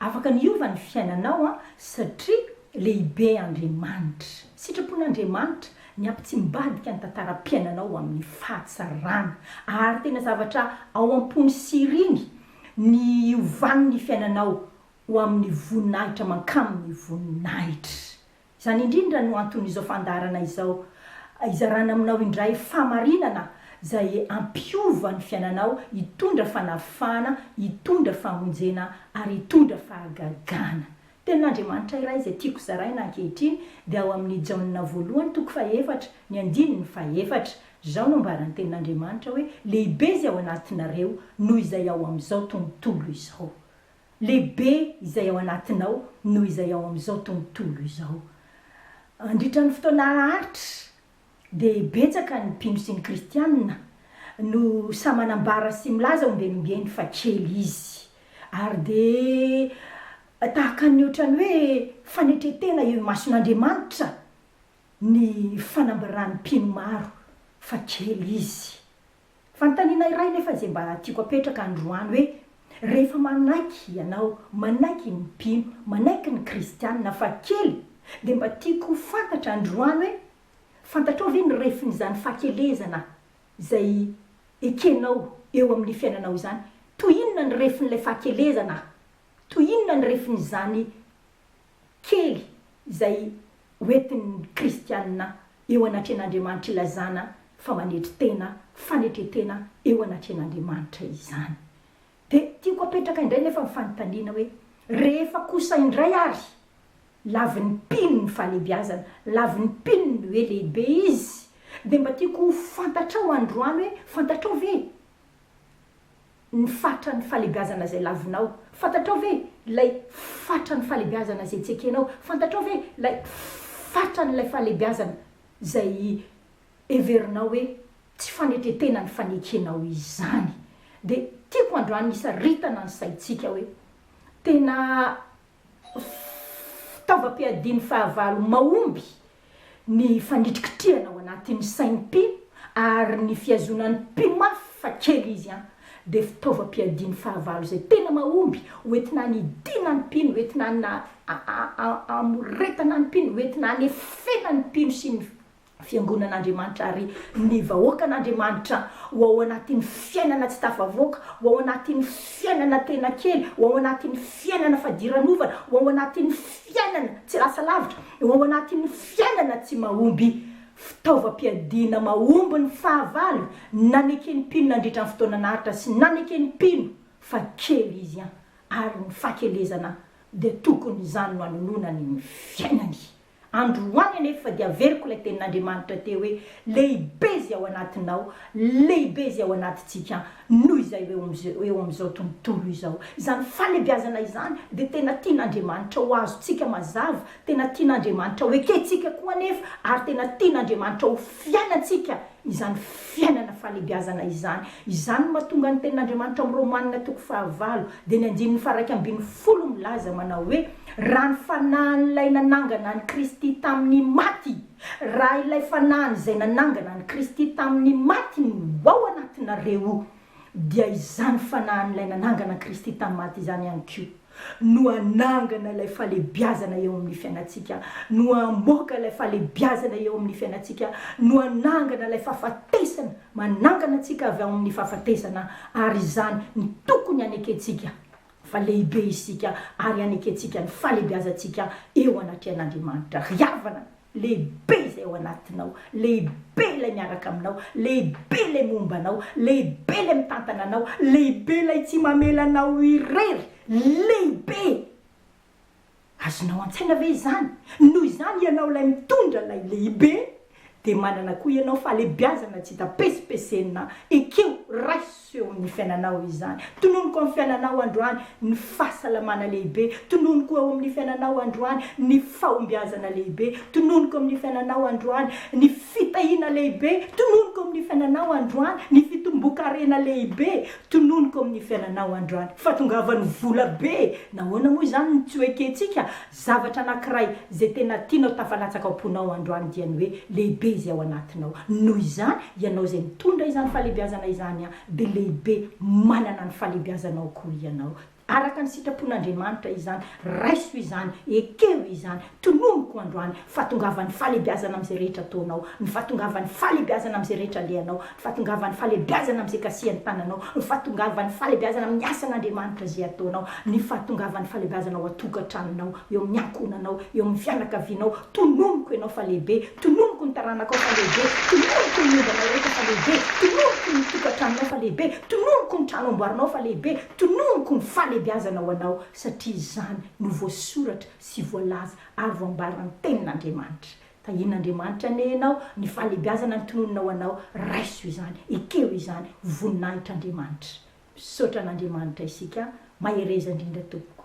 Afaka ny hiova ny fiainanao an satria lehibe Andriamanitra. Sitrapon'Andriamanitra ny hampitsimbadika ny tantaram-piainanao ho amin'ny fahatsarana. Ary tena zavatra ao am-pony sy iriny ny hiovan'ny fiainanao ho amin'ny voninahitra mankamin'ny voninahitra. Izany indrindra no anton'izao fandaharana izao, hizarana aminao indray fahamarinana izay hampiova ny fiainanao, hitondra fanavahana, hitondra famonjena ary hitondra fahagagana. Tenin'Andriamanitra iray izay tiako zaraina ankehitriny dia ao amin'ny Jaona voalohany toko fahefatra ny andininy fahefatra. Izao no ambaran'ny Tenin'Andriamanitra hoe, Lehibe izay ao anatinareo noho izay ao amin'izao tontolo izao. Lehibe izay ao anatinao noho izay ao amin'izao tontolo izao. Mandritra ny fotoana haharitra, dia betsaka ny mpino sy ny Kristianina no sahy manambara sy milaza ombienimbeny fa kely izy, ary dia tahaka ny hoatran'ny hoe fanetren-tena eo imason'Andriamanitra ny fanambaran'ny mpino maro fa kely izy. Fanontaniana iray nefa izay mba tiako apetraka androany hoe, rehefa manaiky ianao, manaiky ny mpino, manaiky ny kristianina fa kely dia mba tiako ho fantatra androany hoe, fantatrao ve ny refin'izany fahakelezana izay ekenao eo amin'ny fiainanao izany? Toy inona ny refin'ilay fahakelezana? Toy inona ny refin'izany? kely izay hoentin'ny kristiana eo anatrehan'Andriamanitra ilazana fa manetry tena, fanetren-tena eo anatrehan'Andriamanitra izany. Dia tiako apetraka indray nefa ny fanontaniana hoe, rehefa kosa indray ary lavin'ny mpino ny fahalehibiazana, lavin'ny mpino ny hoe lehibe izy, dia mba tiako ho fantatrao androany hoe fantatrao ve? ny fatran'ny falebiazana izay lavinao. Fantatrao ve ilay fatran'ny falebiazana izay tsy ekenao? Fantatrao ve ilay fatran'ilay falebiazana izay heverinao hoe tsy fanetren-tena ny fanekenao izany? Dia tiako androany hisaritana ny saintsika hoe tena fitaovam-piadian'ny fahavalo mahomby ny fanitrikitrihana ao anatin'ny sain'ny mpino ary ny fihazonan'ny mpino mafy fa kely izy an dia fitaovam-piadian'ny fahavalo izay tena mahomby hoentina hanidiana ny mpino, hoentina hamoretana ny mpino, hoentina hanefena ny mpino sy ny Fiangonan'Andriamanitra ary ny vahoakan'Andriamanitra ho ao anatin'ny fiainana tsy tafavoaka, ho ao anatin'ny fiainana tena kely, ho ao anatin'ny fiainana fadiranovana, ho ao anatin'ny fiainana tsy lasa lavitra, ho ao anatin'ny fiainana tsy mahomby. Fitaovam-piadiana mahomby ny fahavalo naneken'ny mpino nandritra ny fotoana naharitra sy naneken'ny mpino fa kely izy an, ary ny fahakelezana dia tokony izany no anononany ny fiainany. Androany anefa dia averiko ilay tenin'Andriamanitra teo hoe, Lehibe izay ao anatinao, lehibe izay ao anatintsika noho izay eo amin'izao, eo amin'izao tontolo izao. Izany fahalebiazana izany dia tena tian'Andriamanitra ho azontsika mazava, tena tian'Andriamanitra ho ekentsika koa anefa, ary tena tian'Andriamanitra ho fiainantsika izany fiainana fahalebiazana izany. Izany no mahatonga ny Tenin'Andriamanitra amin'ny Romanina toko fahavalo dia ny andininy faharaika ambin'ny folo milaza manao hoe, Raha ny fanahin'ilay nanangana an'i Kristy tamin'ny maty, raha ilay fanahiny izay nanangana an'i Kristy tamin'ny maty no ao anatinareo, dia izany Fanahin'ilay nanangana an'i Kristy tamin'ny maty izany ihany koa no hanangana ilay fahalehibiazana eo amin'ny fiainantsika, no hamoaka ilay fahalehibiazana eo amin'ny fiainantsika, no hanangana ilay fahafatesana manangana antsika avy ao amin'ny fahafatesana, ary izany no tokony hanekentsika fa lehibe isika ary hanekentsika ny fahalehibiazantsika eo anatrehan'Andriamanitra. Ry havana! Lehibe izay ao anatinao, lehibe ilay miaraka aminao, lehibe ilay momba anao, lehibe ilay mitantana anao, lehibe ilay tsy mamela anao irery, lehibe! Azonao an-tsaina ve izany? Noho izany ianao ilay mitondra ilay lehibe dia manana koa ianao fahalehibiazana tsy hita pesipesenina, ekeo, raiso! Seho ny fiainanao izany. Tononiko amin'ny fiainanao androany ny fahasalamana lehibe. Tononiko eo amin'ny fiainanao androany ny fahombiazana lehibe. Tononiko amin'ny fiainanao androany ny fitahiana lehibe. Tononiko amin'ny fiainanao androany ny fitomboan-karena lehibe. Tononiko amin'ny fiainanao androany fa tongava ny vola be. Nahoana moa izany no tsy ho ekentsika? Zavatra anankiray izay tena tianao tafalatsaka ao am-ponao androany dia ny hoe lehibe izay ao anatinao. Noho izany, ianao izay mitondra izany fahalehibiazana izany an, dia lehibe manana ny fahalehibiazanao koa ianao. Araka ny sitrapon'Andriamanitra izany. Raiso izany, ekeho izany, tononiko androany, fahatongavan'ny fahalehibiazana amin'izay rehetra ataonao, ny fahatongavan'ny fahalehibiazana amin'izay rehetra alehanao, Fahatongavan'ny fahalebiazana amin'izay gasian'ny tananao, ny fahatongavan'ny fahalebiazana amin'ny asan'Andriamanitra izay ataonao, ny fahatongavan'ny fahalebiazana ao an-tokantranonao, eo amin'ny ankohonanao, eo amin'ny fianakavianao, tononiko ianao fa lehibe, tononiko ny taranakao fa lehibe, tononiko ny ombanao rehetra fa lehibe, tononiko ny tokantranonao fa lehibe, tononiko ny trano amboarinao fa lehibe, tononiko ny fahalebiazana ho anao, satria izany no voasoratra sy voalaza ary voambaran'ny Tenin'Andriamanitra. Tahian'Andriamanitra anie ianao, ny fahalebiazana ny tononina ho anao, raiso izany, ekeo izany, ho voninahitr'Andriamanitra. Misaotra an'Andriamanitra isika an, mahereza indrindra tompoko.